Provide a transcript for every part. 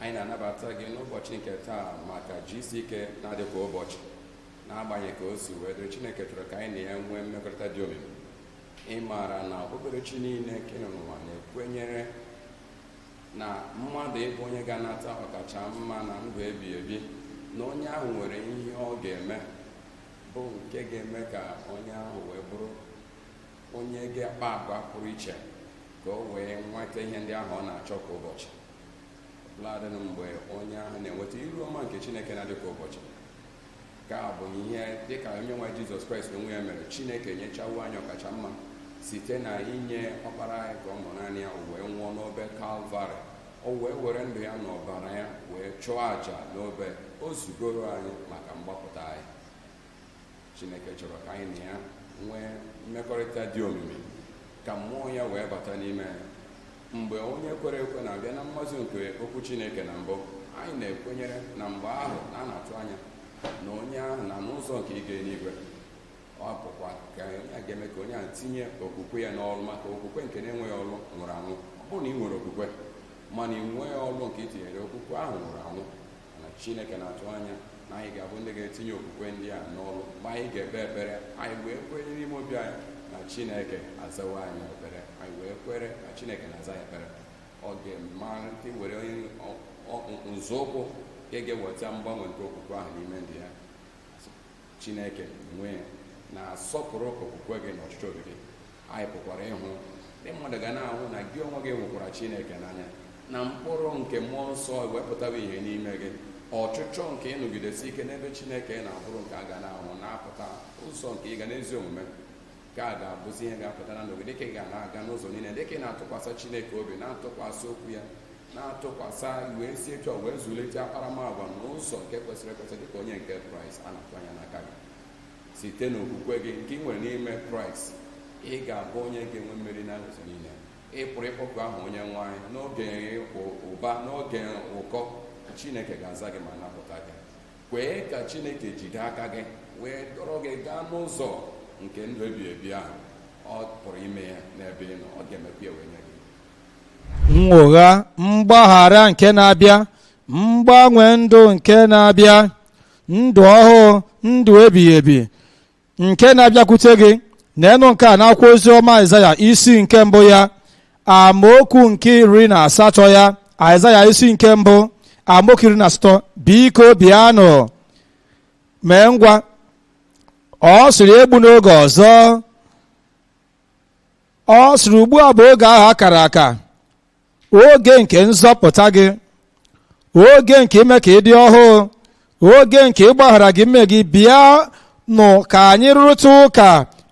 anyị na-anabata gị n'ụbọchị nke taa maka gck na-adị kwa ụbọchị n'agbanyeghị ka o si wee dịrị chineke chọrọ ka anyị na ya nwee mmekọrịta dị omimi ị maara na okpukperechi niile nke nọ n'ụwa na-ekwenyere na mmadụ ịbụ onye ga-anata ọkacha mma na ndụ ebighị ebi na onye ahụ nwere ihe ọ ga-eme bụ nke ga-eme ka onye ahụ wee bụrụ onye ga-akpa agwa pụrụ iche ka o wee nweta ihe ndị ahụ ọ na-achọ kwa ụbọchị ladị mgbe onye ahụ na-enweta iru ọma nke chineke na-adị kwa ụbọchị nke a bụ ihe dị ka onye nwe jizọs kraịst n'onwe ya mere chineke nyechawo anyị ọkacha mma site na inye ọkpara anyị nke ọ mụrụ naanị ya o wee nwụọ n'obe kalvarị o wee were ndụ ya na ọbara ya wee chụọ àjà n'obe o zugoro anyị maka mgbapụta anyị chineke chọrọ ka anyị na ya nwee mmekọrịta dị omimi ka mmụọ ya wee bata n'ime anyị mgbe onye kwere ekwe na-abịa na mmazu nke okwu chineke na mbụ anyị na-ekwenyere na mgbe ahụ na a na-atụ anya na onye ahụ nọ n'ụzọ nke ịga eluigwe ọ bụkwa ka onye a ga-eme ka onye ahụ tinye okwukwe ya n'ọrụ maka okwukwe nke na-enweghị ọrụ nwụrụ anwụ ọ bụrụ na ị nwere okwukwe mana ị nweghị ọrụ nke ị tinyere okwukwe ahụ nwụrụ anwụ mana chineke na-atụ anya na anyị ga-abụ ndị ga-etinye okwukwe ndị a n'ọrụ mgbe anyị ga-ekpe ekpere anyị wee kwenye n'ime obi anyị na chineke azawo anyị ekpere anyị wee kwere na chineke na-aza anyị ekpere ọ ga-amalite were nzọụkwụ nke ga-eweta mgbanwe nke okwukwe ahụ n'ime ndụ ya chineke n'onwe ya na-asọpụrụ okwukwe gị na ọchịchọ obi gị anyị pụkwara ịhụ ndị mmadụ ga na-ahụ na gị onwe gị hụkwara chineke n'anya na mkpụrụ nke mmụọ nsọ wee pụtawa ihe n'ime gị ọchịchọ nke ịnọgidesi ike n'ebe chineke nọ abụrụ nke a ga na-ahụ na-apụta ụzọ nke ịga n'ezi omume nke a ga-abụzi ihe ga-apụta na ndụ gị dịka ị ga na-aga n'ụzọ niile dịka ị na-atụkwasị chineke obi na-atụkwasị okwu ya na-atụkwasị wee si etu a wee zụlite akparamagwa n'ụzọ nke kwesịrị ekwesị dịka onye nke kraịst a na-atụ anya n'aka gị site n'okwukwe gị nke ị nwere n'ime kraịst ị ga-abụ onye ga-enwe mmeri n'ụzọ niile ị pụrụ ịkpọku aha onye nwe anyị n'oge ụba n'oge ụkọ chineke ga-aza gị ma napụta gị kwee ka chineke jide aka gị wee dọrọ gị gaa n'ụzọ nke ndụ ebighị ebi ahụ ọ pụrụ ime ya n'ebe ị nọ ọ ga-emekwa ya wee nye gị nnwogha mgbaghara nke na-abịa mgbanwe ndụ nke na-abịa ndụ ọhụụ ndụ ebighị ebi nke na-abịakwute gị na enu nke a n'akwụkwọ ozi ọma aịzaya isi nke mbụ ya amaokwu nke iri na asatọ ya aịzaya isi nke mbụ amaokwu iri na asatọ biko bịanụ mee ngwa ọ sịrị egbuna oge ọzọ ọ sịrị ugbu a bụ oge ahụ a kara aka oge nke nzọpụta gị oge nke ime ka ị dị ọhụụ oge nke ịgbaghara gị mmehie gị bịa nụ ka anyị rụrịta ụka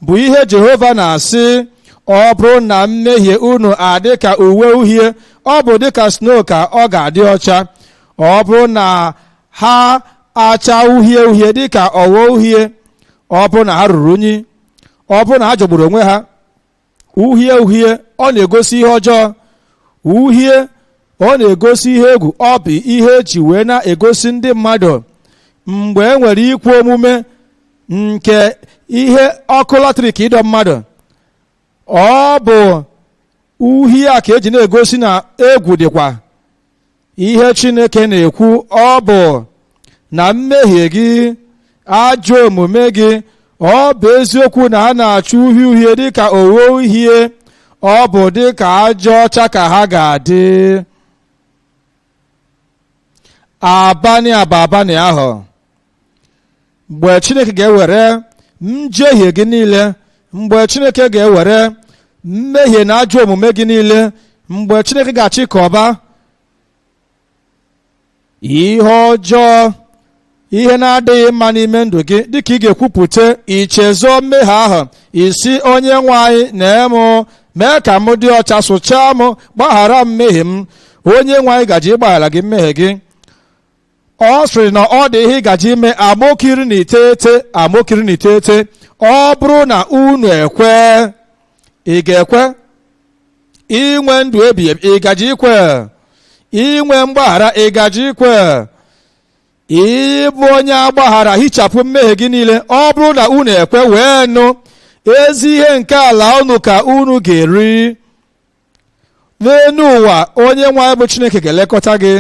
bụ ihe jehova na-asị ọ bụrụ na mmehie unu adị ka uwe uhie ọ bụ dịka snow ka ọ ga-adị ọcha ọ bụrụ na ha acha uhie uhie dịka ogho uhie ọ bụrụ na ha ruru unyi ọ bụrụ na ha jọgburu onwe ha uhie uhie ọ na-egosi ihe ọjọọ uhie ọ na-egosi ihe egwu ọ bụ ihe eji wee na-egosi ndị mmadụ mgbe e nwere ikwe omume nke ihe ọkụ latrik ịdọ mmadụ ọ bụ uhie a ka eji na-egosi na egwu dịkwa ihe chineke na-ekwu ọ bụ na mmehie gị ajọ omume gị ọ bụ eziokwu na ha na-acha uhie uhie dịka ogho uhie ọ bụ dịka ajị ọcha ka ha ga-adị abani a bụ abani ahụ mgbe chineke ga-ewere njehie gị niile mgbe chineke ga-ewere mmehie na ajọ omume gị niile mgbe chineke ga-achịkọba ihe ọjọọ ihe na-adịghị mma n'ime ndụ gị dịka ị ga-ekwupụta ichezọ mmehie ahụ ị sị onye nwe anyị na-emụ mee ka m dị ọcha sụchaa m gbaghara mmehie m onye nwe anyị gaji ịgbaghara gị mmehie gị ọ sịrị na ọ dị ihe ị gaji ime amaokwu iri na iteghete ọ bụrụ na unu ekwe ị ga-ekwe inwe ndụ ebighị ebi ị gaji ikwe inwe mgbaghara ị gaji ikwe ịbụ onye a gbaghara hichapụ mmehie gị niile ọ bụrụ na unu ekwe wee nụ ezi ihe nke ala unu ka unu ga-eri n'elu ụwa onye nwe anyị bụ chineke ga-elekọta gị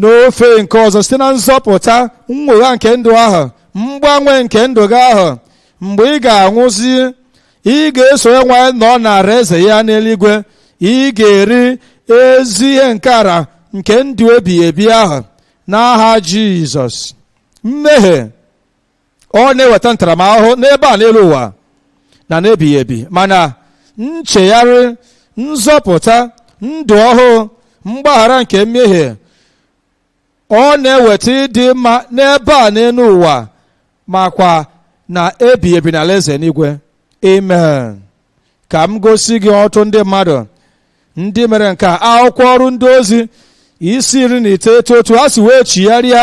n'ofe nke ọzọ site na nzọpụta nnwogha nke ndụ ahụ mgbanwe nke ndụ gị ahụ mgbe ị ga-anwụzi ị ga-eso ya nwa nọ n'ala eze ya n'eluigwe ị ga-eri ezi ihe nke ala nke ndụ ebighị ebi ahụ n'aha jizọs mmehie ọ na-eweta ntaramahụhụ n'ebe a n'elu ụwa na n'ebighị ebi mana nchegharị nzọpụta ndụ ọhụụ mgbaghara nke mmehie ọ na-eweta ịdị mma n'ebe a n'elu ụwa makwa na ebighị ebi n'ala eze n'igwe amen ka m gosi gị otu ndị mmadụ ndị mere nke a akwụkwọ ọrụ ndị ozi isi iri na iteghete otu ha si wee chigharịa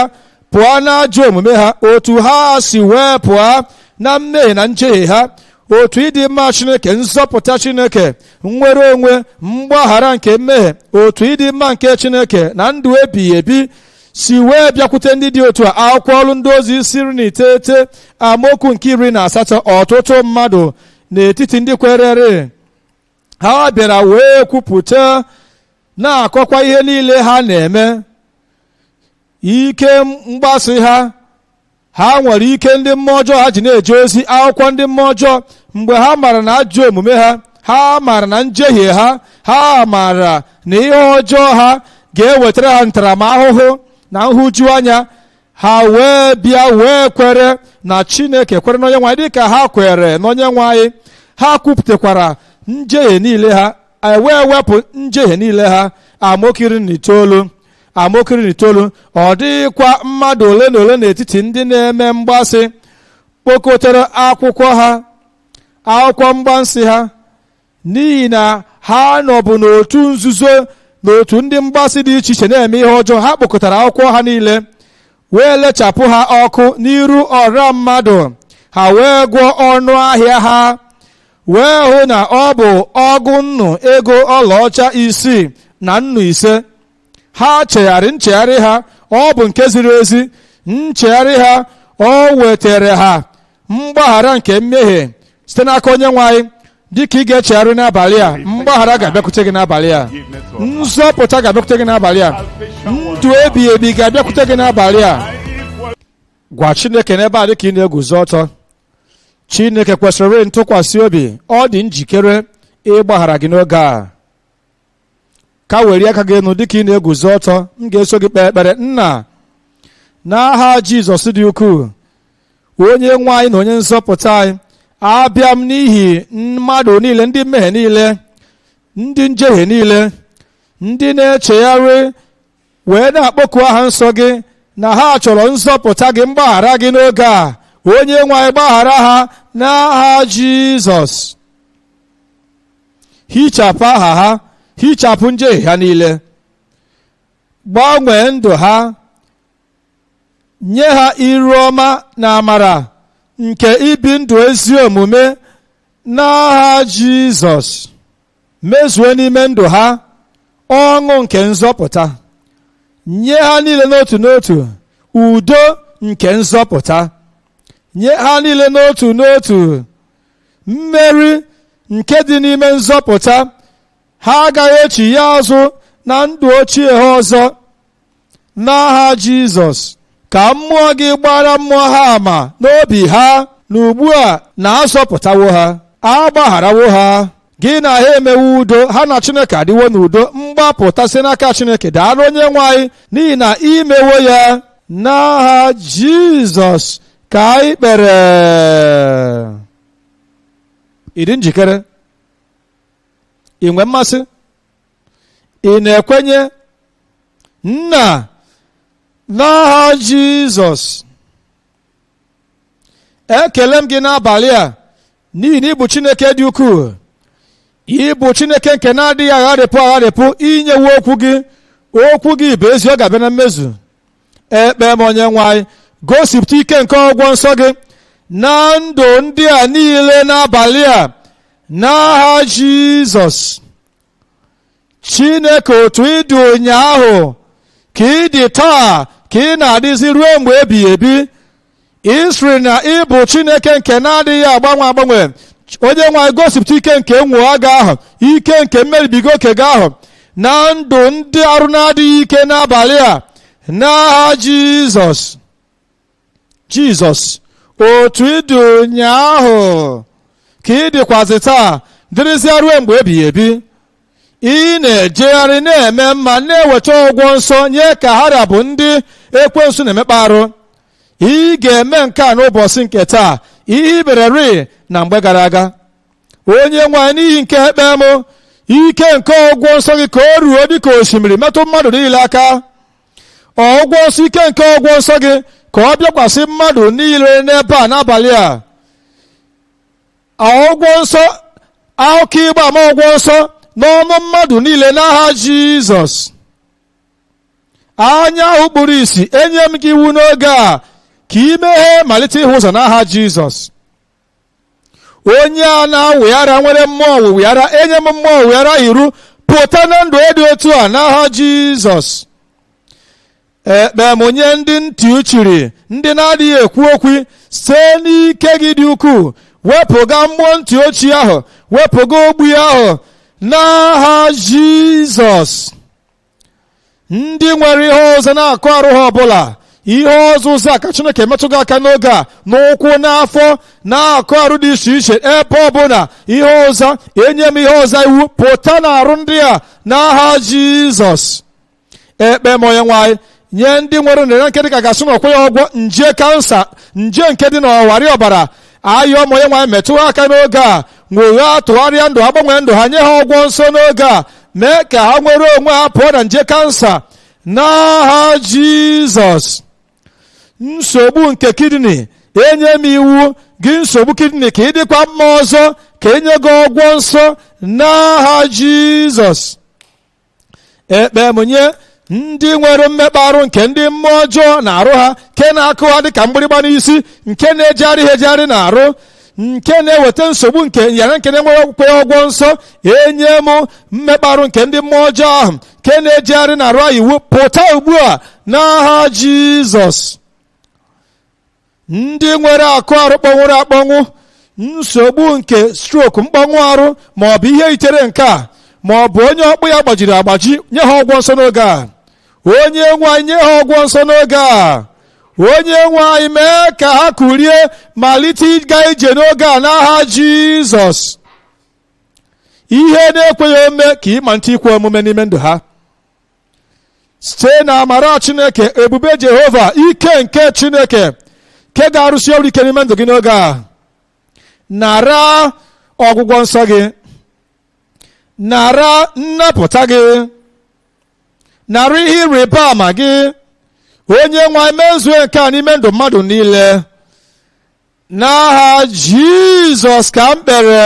pụọ n'ajọ omume ha otu ha si wee pụọ na mmehie na njehie ha otu ịdị mma chineke nzọpụta chineke nnwere onwe mgbaghara nke mmehie otu ịdị mma nke chineke na ndụ ebighị ebi si wee bịakwute ndị dị otu a akwụkwọ ọrụ ndị ozi isi iri na iteghete amaokwu nke iri na asatọ ọtụtụ mmadụ n'etiti ndị kwerere ha bịara wee kwupụta na-akọkwa ihe niile ha na-eme ike mgbasị ha ha nwere ike ndị mmụọ ọjọọ ha ji na-eje ozi akwụkwọ ndị mmụọ ọjọọ mgbe ha mara na ajọ omume ha ha mara na njehie ha ha mara na ihe ọjọọ ha ga-ewetara ha ntaramahụhụ na nhụjuanya ha wee bịa wee kwere na chineke kwere n'onye nwe anyị dịka ha kwere n'onye nwe anyị ha kwupụtakwara njehie niile ha e wee wepụ njehie niile ha amaokwu iri na itoolu amaokwu iri na itoolu ọ dịghịkwa mmadụ ole na ole n'etiti ndị na-eme mgbasị kpokọtara akwụkwọ ha akwụkwọ mgbansị ha n'ihi na ha nọbụ n'otu nzuzo n'otu ndị mgbasị dị iche iche na-eme ihe ọjọọ ha kpokọtara akwụkwọ ha niile wee lechapụ ha ọkụ n'iru ọra mmadụ ha wee gụọ ọnụ ahịa ha wee hụ na ọ bụ ọgụ nnu ego ọlaọcha isii na nnu ise ha chegharị nchegharị ha ọ bụ nke ziri ezi nchegharị ha o wetara ha mgbaghara nke mmehie site n'aka onye nwe anyị dịka ị ga-echegharị n'abalị a mgbaghara ga-abịakwute gị n'abalị a nzọpụta ga-abịakwute gị n'abalị a ndụ ebighị ebi ga-abịakwute gị n'abalị a gwa chineke n'ebe a dịka ị na-eguzo ọtọ chineke kwesịrị ntụkwasị obi ọ dị njikere ịgbaghara gị n'oge a ka were aka gị enu dịka ị na-eguzo ọtọ m ga-eso gị kpee ekpere nna n'aha jizọs dị ukwuu onye nwe anyị na onye nzọpụta anyị abịa m n'ihi mmadụ niile ndị mmehie niile ndị njehie niile ndị na-echegharị wee na-akpọku aha nsọ gị na ha chọrọ nzọpụta gị mgbaghara gị n'oge a onye nwe anyị gbaghara ha n'aha jizọs hichapụ aha ha hichapụ njehie ha niile gbanwee ndụ ha nye ha iru ọma na amara nke ibi ndụ ezi omume n'aha jizọs mezue n'ime ndụ ha ọṅụ nke nzọpụta nye ha niile n'otu n'otu udo nke nzọpụta nye ha niile n'otu n'otu mmeri nke dị n'ime nzọpụta ha agaghị echigha azụ na ndụ ochie ha ọzọ n'aha jizọs ka mmụọ gị gbaara mmụọ ha ama n'obi ha na ugbu a na azọpụtawo ha agbagharawo ha gị na ha emewo udo ha na chineke adịwo n'udo mgbapụta si n'aka chineke daalụ onye nwe anyị n'ihi na i mewo ya n'aha jizọs ka anyị kpere ị dị njikere i nwe mmasị ị na-ekwenye nna n'aha jizọs ekele m gị n'abalị a n'ihi na ị bụ chineke dị ukwuu ị bụ chineke nke na-adịghị agharịpụ agharịpụ i nyewo okwu gị okwu gị bụ ezi ọ ga-abịa na mmezu ekpe m onye nwe anyị gosipụta ike nke ọgwụgwọ nsọ gị na ndụ ndị a niile n'abalị a n'aha jizọs chineke otu ị dị ụnyaahụ ka ị dị taa ka ị na-adịzi ruo mgbe ebighị ebi ị sịrị na ị bụ chineke nke na-adịghị agbanwe agbanwe onye nwe anyị gosipụta ike nke mmụọ gị ahụ ike nke mmeribiga oke gị ahụ na ndụ ndị arụ na-adịghị ike n'abalị a n'aha jizọs jizọs otu ị dị ụnyaahụ ka ị dịkwazị taa dịrịzịa ruo mgbe ebighị ebi ị na-ejegharị na-eme mma na-eweta ọgwụgwọ nsọ nye ka ha ra bụ ndị ekwensu na-emekpa arụ ị ga-eme nke a n'ụbọchị nke taa ihe i mereri na mgbe gara aga onye nwe anyị n'ihi nke a ekpe m ike nke ọgwụgwọ nsọ gị ka o ruo dịka osimiri metụ mmadụ niile aka ọgwụgwọ nsọ ike nke ọgwụgwọ nsọ gị ka ọ bịakwasị mmadụ niile n'ebe a n'abalị a ọgwụgwọ nsọ akụkọ ịgba ama ọgwụgwọ nsọ n'ọnụ mmadụ niile n'aha jizọs anya ahụ kpuru isi enye m gị iwu n'oge a ka i meghe malite ịhụ ụzọ n'aha jizọs onye a na-awị ara nwere mmụọ ọwịwị ara enye m mmụọ ọwịwị ara iwu pụta na ndụ dị otu a n'aha jizọs ekpe m nye ndị ntị chiri ndị na-adịghị ekwu okwu site n'ike gị dị ukwuu wepụga mmụọ ntị ochichi ahụ wepụga ogbi ahụ n'aha jizọs ndị nwere ihe ọzịza n'akụkụ arụ ha ọbụla ihe ọzịza ka chineke metụ gị aka n'oge a n'ụkwụ n'afọ n'akụkụ arụ dị iche iche ebe ọbụla ihe ọzịza enye m ihe ọzịza iwu pụta na arụ ndị a n'aha jizọs ekpe m onye nwe anyị nye ndị nwere nrịa nke dịka a ga-asị na o kweghị ọgwọ nje kansa nje nke dị n'ọwarị ọbara ayọ m onye nwe anyị metụ ha aka n'oge a nwogha tụgharịa ndụ ha gbanwee ndụ ha nye ha ọgwọ nsọ n'oge a mee ka ha nwere onwe ha pụọ na nje kansa n'aha jizọs nsogbu nke kidney enye m iwu gị nsogbu kidney ka ị dịkwa mma ọzọ ka e nye gị ọgwọ nsọ n'aha jizọs ekpe m nye ndị nwere mmekpa arụ nke ndị mmụọ ọjọọ n'arụ ha nke na-akụ ha dịka mgbịrịgba n'isi nke na-ejegharị ha ejegharị n'arụ nke na-eweta nsogbu nke ịyị ara nke na-enweghị okpukpe ọgwọ nsọ enye m mmekpa arụ nke ndị mmụọ ọjọọ ahụ nke na-ejegharị n'arụ ha iwu pụta ugbu a n'aha Jizọs ndị nwere akụkụ arụ kpọnwụrụ akpọnwụ nsogbu nke strok mkpọnwụ arụ ma ọ bụ ihe yitere nke a ma ọ bụ onye ọkpụkpụ ya gbajiri agbaji nye ha ọgwọ nsọ n'oge a onye nwe anyị nye ha ọgwọ nsọ n'oge a onye nwe anyị mee ka ha kurie malite ịga ije n'oge a n'aha jizọs ihe na-ekweghị ome ka ị malite ikwe omume n'ime ndụ ha site na amara chineke ebube jehova ike nke chineke nke ga-arụsi ọrụ ike n'ime ndụ gị n'oge a nara ọgwụgwọ nsọ gị nara nnapụta gị nara ihe ịrịba ama gị onye nwe anyị mezue nke a n'ime ndụ mmadụ niile n'aha jizọs ka m kpere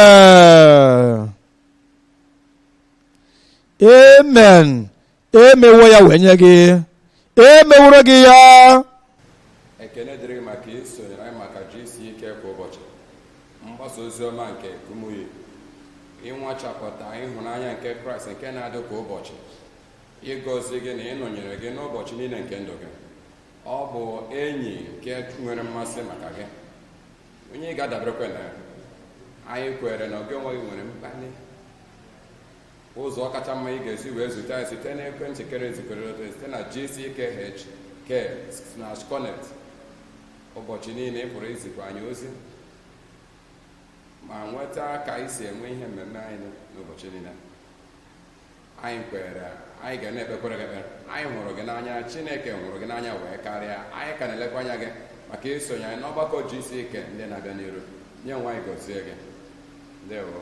amen emewo ya wee nye gị emeworo gị ya ekene dịrị gị maka isonyere anyị maka gck kwa ụbọchị mgbasa ozi ọma nke kumuyi ịnwachapụta ịhụnanya nke kraịst nke na-adị kwa ụbọchị ịgọzi gị na ịnọnyere gị n'ụbọchị niile nke ndụ gị ọ bụ enyi nke nwere mmasị maka gị onye ị ga-adaberekwa na ya anyị kwere na gị onwe gị nwere mkpali ụzọ kacha mma ị ga-esi wee zute anyị site na ekwentị kere ezikere site na gckhq slash connect ụbọchị niile ị pụrụ izikwa anyị ozi ma nweta ka anyị si enwe ihe mmemme anyị n'ụbọchị niile anyị kwere anyị ga na-ekpekwere gị ekpere anyị hụrụ gị n'anya chineke hụrụ gị n'anya wee karịa anyị ka na-elekwa anya gị maka isonye anyị n'ọgbakọ gck ndị na-abịa n'iru onye nwe anyị gozie gị ndewo